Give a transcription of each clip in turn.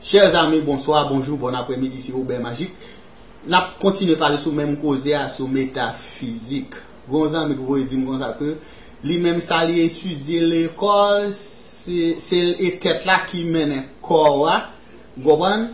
Chers amis bonsoir, bonjour, bon après midi se Obè Majik Nap kontinye pale sou menm koze a sou metafizik Gen yon zanmi ki voye dim konsa ke li menm sa li etidye lekòl se l e tèt la ki mennen kò a Ou konprann?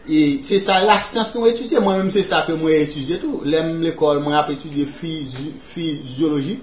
E se sa lasyans nou etidye Mwen menm se sa ke mwen etidye tou Lè m lekòl mwen ap etidye fizyoloji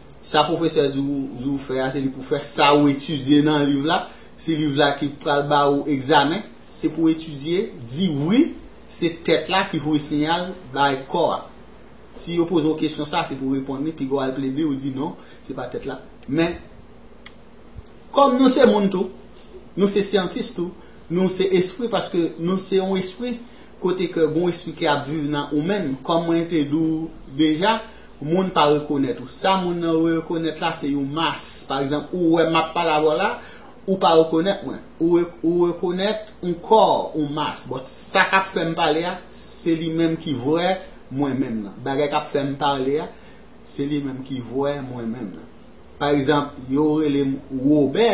Sa pwofesè di ou di ou fè a se li pou fè sa ou etidye nan liv la, se liv la ki pral ba ou egzamen, se pou etidye, di wi, se tèt la ki voye siyal bay kò a. Si yo poze ou kesyon sa se pou ou reponn li, piga w al plede ou di non, se pa tèt la. Men, kòm nou se moun tou, nou se syantis tou, nou se espri paske nou se yon espri, Kote ke gon espri ki ap viv nan ou menm, kòm mwen te di w deja, moun pa rekonèt ou. Sa moun nan yo rekonèt la se yon mas. Pa egzanp, ou wè m ap pale avè w la, ou pa rekonèt mwen. Ou rekonèt yon kò, yon mas. Bon, sa k ap fè m pale a, se li menm ki vrè mwen menm nan. Bagay k ap fè m pale a, se li menm ki vrè mwen menm nan. Pa egzanp, yo rele m Wobè,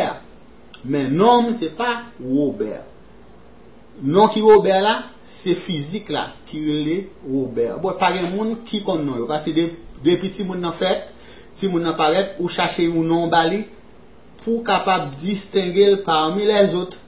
men non m se pa Wobè. Non ki Robert la se fizik la ki rele Robert bon pa gen moun ki konn non yo paske depi timoun nan fèt timoun nan parèt ou chache yon non ba li pou w kapab distenge l pami lèzot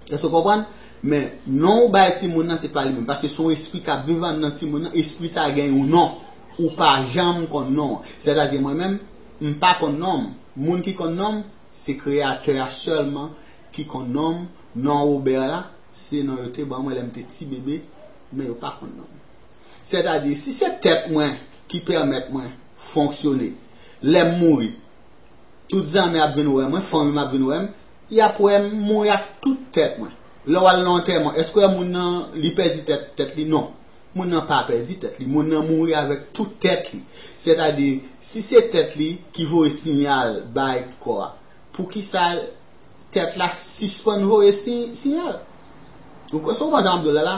èske w konprann men non ou bay timoun nan se pa li menm paske se yon espri k ap viv anndan timoun nan espri sa gen yon non ou pa janm konn non an sètadi mwen menm m pa konn non m moun ki konn non m se kreyatè a sèlman Ki konn non m? Non Robert la, se non yo te ban mwen lè m te ti bebe, men yo pa konn non m. Sètadi, si se tèt mwen ki pèmèt mwen fonksyone, lè m mouri, tout zanmi ap vin wè mwen, fanmi m ap vin wè m, y ap wè m mouri ak tout tèt mwen. Lè w al nan antèman, èske w wè moun nan, li pèdi tèt tèt li? Non. Moun nan pa pèdi tèt li. Moun nan mouri avèk tout tèt li. Sètadi, si se tèt li ki voye siyal bay kò a, poukisa. tèt la sispann voye siyal. Ou kwè sa ou panse a map di w la la?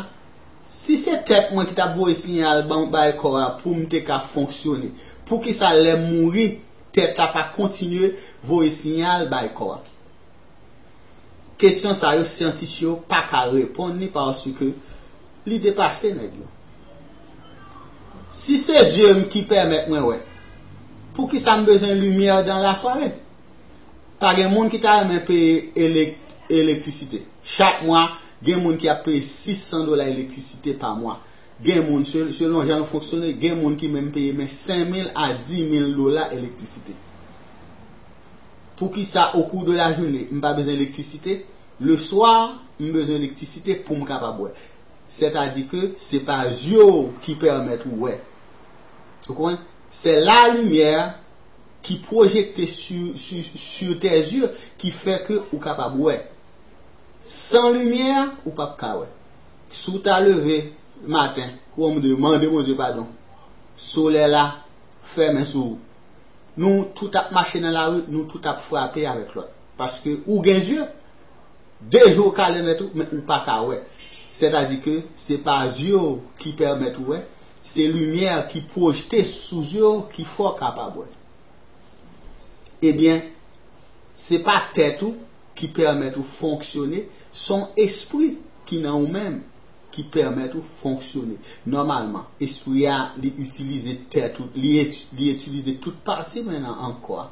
Si se tèt mwen ki tap voye siyal ban bay kò a pou m te ka fonksyone, poukisa lè m mouri tèt la pa kontinye voye siyal bay kò a? Kesyon sa yo syantis yo pa ka reponn li paske li depase nèg yo. Si se zye m ki pèmèt mwen wè, poukisa m bezwen limyè dan lasware? Pa gen moun ki ta renmen peye elektrisite. Chak mwa, gen moun ki ap peye 600 dola elektrisite pa mwa. Gen moun, selon jan nou fonksyone, gen moun ki menm peye men 5 mil a 10 mil dola elektrisite. Poukisa okou de lajounen, m pa bezwen elektrisite? Le swa, m bezwen elektrisite pou m kapab wè. Sètadi ke se pa zye w ki pèmèt ou wè. Ou konprann? Se la limyè. ki pwojekte sur tes yeux ki fè ke ou kapab wè. San limyè a, ou pap ka wè. Si w ta leve maten kòm de mande Bondye padon, solèy la fèmen sou ou. Nou tout ap mache nan lari, nou tout ap frape avèk lòt. Paske ou gen zye. De je w ka remèt ou, men ou pa ka wè. Sètadi ke se pa zye w ki pèmèt ou wè, se limyè ki pwojte sou zye w ki fè w kapab wè. Ebyen, se pa tèt ou ki pèmèt ou fonksyone, se yon espri ki nan ou menm ki pèmèt ou fonksyone. Nòmalman, espri a li itilize tèt ou, li itilize tout pati men nan an kò a.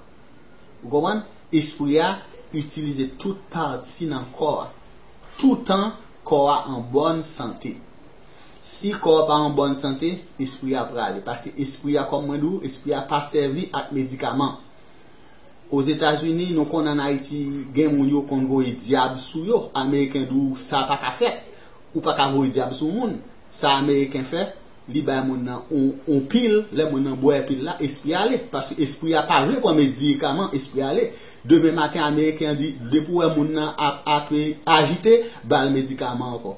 Ou konprann? Espri a itilize tout pati nan kò a, toutan kò a an bòn sante. Si kò a pa an bòn sante, espri a prale. Paske espri a, kòm mwen di w, espri a pa sèvi ak medikaman. Ozetazini, nou konnen an Ayiti, gen moun yo konn voye dyab sou yo. Ameriken di w sa pa ka fèt. Ou pa ka voye dyab sou moun. Sa Ameriken fè, Li bay moun nan on pil, lè moun nan bwè pil la, espri a ale. Paske espri a pa vle pran medikaman, espri a ale. Demen maten ameriken an di, depi w wè moun nan ap ape ajite, ba l medikaman ankò.